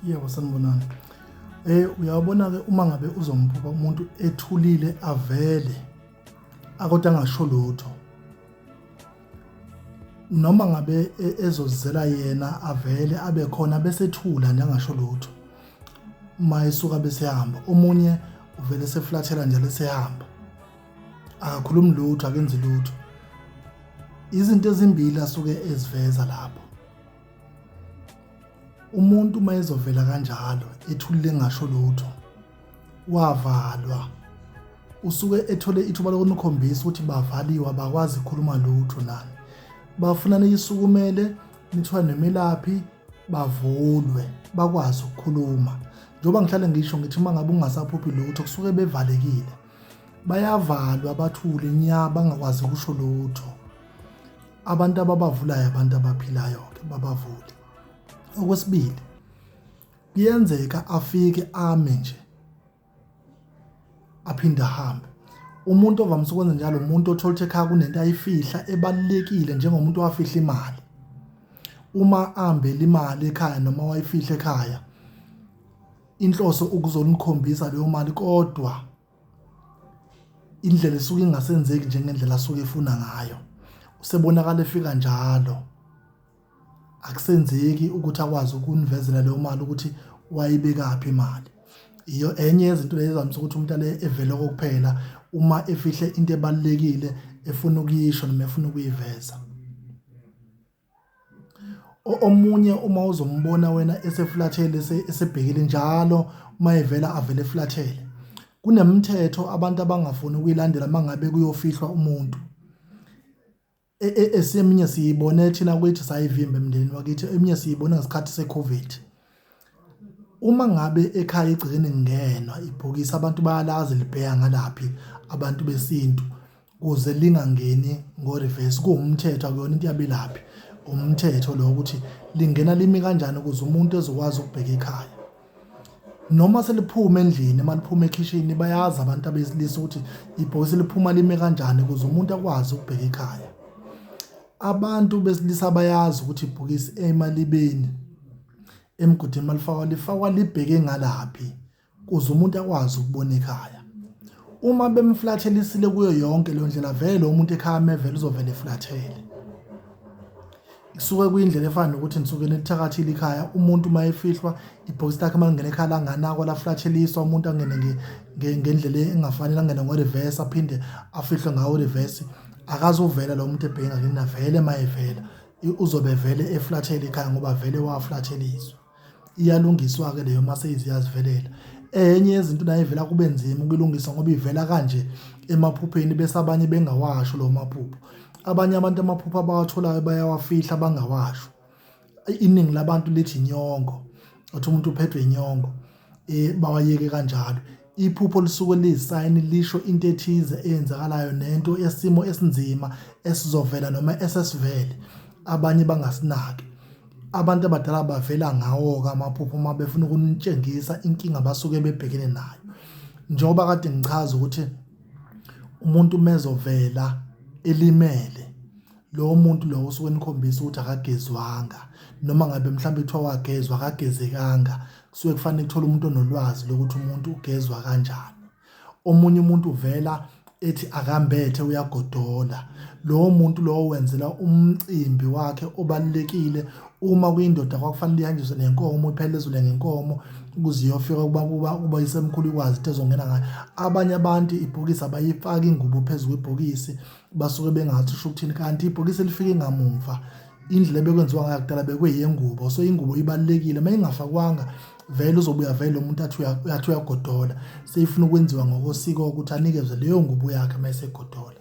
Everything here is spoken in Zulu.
yebo sanibonani eh uyabona ke uma ngabe uzombuka umuntu ethulile avele akodwa angasho lutho noma ngabe e, ezozizela yena avele abe khona bese thula nje angasho lutho uma esuka bese hamba omunye uvele seflathela nje lesehamba akakhulumi lutho akenzi lutho izinto ezimbili asuke eziveza lapho umuntu uma ezovela kanjalo ethulile engasho lutho wavalwa usuke ethole ithuba lokunikhombisa ukuthi bavaliwe abakwazi ukukhuluma lutho nani bafuna niyisukumele nithiwa nemelaphi bavulwe bakwazi ukukhuluma njengoba ngihlale ngisho ngithi uma ngabe ungasaphuphi lutho kusuke bevalekile bayavalwa bathule nya bangakwazi ukusho lutho abantu ababavulayo abantu abaphilayo-ke babavule okwesibili kuyenzeka afike ame nje aphinde ahambe umuntu ovamise ukwenza njalo umuntu othola ukuthi ekhaya kunento ayifihla ebalulekile njengomuntu owafihla imali uma ahambela imali ekhaya noma wayifihla ekhaya inhloso ukuzomkhombisa leyo mali kodwa indlela esuke ingasenzeki njengendlela asuke efuna ngayo usebonakala efika njalo akusenzeki ukuthi akwazi ukunivezela leyo mali ukuthi wayibekaphi imali iyo enye yezinto lezizamisa ukuthi umuntu ale evele kokuphela uma efihle into ebalekile efuna ukuyisho noma efuna ukuyiveza Omunye uma uzombona wena esefulathele esebhekile njalo uma evela avele efulathele, kunemithetho abantu abangafuni ukuyilandela uma ngabe kuyofihlwa umuntu. Esinye siyibone thina kwethu sayivimba emndenini wakithi, eminye siyibone ngesikhathi se-COVID. Uma ngabe ekhaya egcekeni kungenwa ibhokisi abantu bayalazi libheya ngalaphi abantu besintu kuze lingangeni ngo-reverse, kuwumthetho akuyona into yabelaphi umthetho lo ukuthi lingena limi kanjani ukuze umuntu ezokwazi ukubheka ekhaya. Noma seliphuma endlini uma liphuma ekhishini bayazi abantu abesilisa ukuthi ibhokisi liphuma lime kanjani ukuze umuntu akwazi ukubheka ekhaya. Abantu besilisa bayazi ukuthi ibhokisi emalibeni emgodini malifakwa lifakwa libheke ngalaphi kuze umuntu akwazi ukubona ekhaya. Uma bemflathelisile kuyo yonke leyo ndlela vele umuntu ekhaya mevele uzovele eflathele. Isuke kuyindlela efana nokuthi nisuke nithakathile ikhaya umuntu uma efihlwa ibhokisi lakhe uma lingena ekhaya langanakwa laflatheliswa umuntu angene ngendlela engafanele angene ngo-reverse aphinde afihlwe ngawo reverse akazuvela lo muntu ebhekene nale na vele mayevela uzobe vele eflathele ikhaya ngoba vele waflatheliswa iyalungiswa ke leyo mase iziyazivelela enye yezinto nayivela kube nzima ukulungisa ngoba ivela kanje emaphupheni bese abanye bengawasho lo maphupho abanye abantu amaphupho abawatholayo bayawafihla bangawasho iningi labantu lithi inyongo uthi umuntu uphethwe inyongo eh bawayeke kanjalo iphupho lisuke liyisayini lisho into ethize eyenzakalayo nento esimo esinzima esizovela noma esesivele abanye bangasinaki abantu abadala bavela ngawo ke amaphupho uma befuna ukunitshengisa inkinga basuke bebhekene nayo njengoba kade ngichaza ukuthi umuntu mezovela elimele lowo muntu lowo osuke nikhombisa ukuthi akagezwanga noma ngabe mhlawumbe kuthiwa wagezwa akagezekanga kusuke kufanele kuthole umuntu onolwazi lokuthi umuntu ugezwa kanjani omunye umuntu uvela ethi akambethe uyagodola lowo muntu lowo wenzela umcimbi wakhe obalekile uma kuyindoda kwakufanele ihanjiswe nenkomo iphele ezule ngenkomo ukuze iyofika kuba kuba kuba isemkhulu ikwazi ezongena ngayo abanye abantu ibhokisi abayifaki ingubo phezulu kwebhokisi basuke bengathi usho ukuthini kanti ibhokisi elifike ngamumva indlela ebekwenziwa ngayo kudala bekweyengubo so ingubo ibalekile uma ingafakwanga vele uzobuya vele umuntu athi uyathi uyagodola seyifuna ukwenziwa ngokosiko ukuthi anikezwe leyo ngubo yakhe uma esegodola